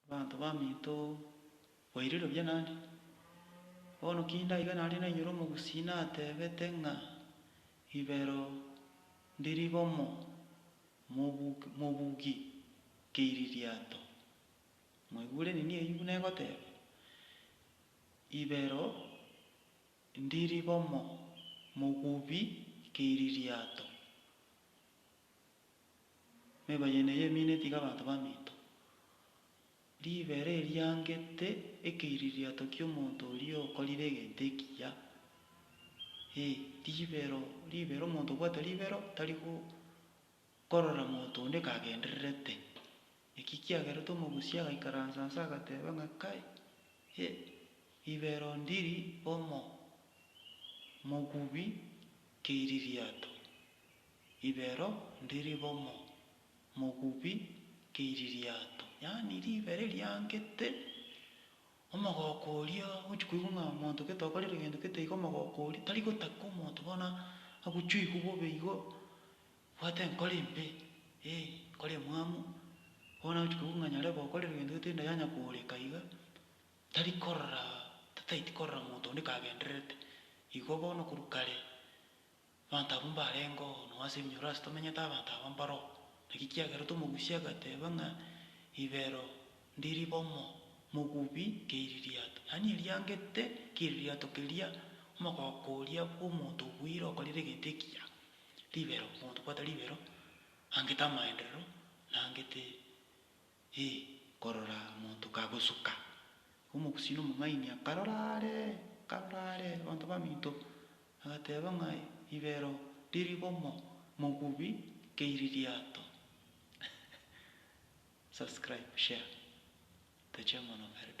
Abanto baminto bairire buya naende. Bono ki ndaiga naria nainyore omogusii natebete ng'a ribero ndiri bomo mobugi keiri riato. Mwaigure nini eyio buna egoteba? Ibero ndiri bomo mogubi keiri riato. Meba yene ey'emino etiga abanto baminto. Ribero eriangete ekeiririato ki'omonto oria okorire egento ekiya. Ee, ribero, ribero, omonto obwate ribero tari gokorora monto onde kagendererete. Naki kiagerete omogusia agaikaransa nse agateba ng'a kai, e, ribero ndiri omo, mogubi keiririato. Ribero ndi ribomo, mogubi keiri riato. Yaani ribere riangete, omogoko oria ogochia koigwa ng'a omonto gete okorire gento gete iga omogoko oria tari gotaka omonto bono agochwe igwe bobe igo obwate enkoro embe, eh, enkoro emwamu. Bono agochia koigwa ng'a nyarebe okorire gento gete enda yanya kooreka iga, tari korora, tataeti korora monto onde kagendererete. Igo bono korwa kare. Abanto abwo mbarengeo, nao ase eminyoro ase tomenyete abanto aba mbaro. Naki kiagerete omogusi agateba ng'a Ibero ndi ribomo, mogubi keiri riato. Yaani eriangete keiri riato keria omogoko oria bw'omonto obuire okorire egento ekiya. Ribero, omonto obwate ribero, angete amaenderero, na angete. Ee, korora omonto kagosuka. Omogusii na omong'aini akarora are, akarora are, abanto baminto, agateeba ng'a ribero riri bomo mogubi keiri riato. Subscribe, share, toche mono Eldoret.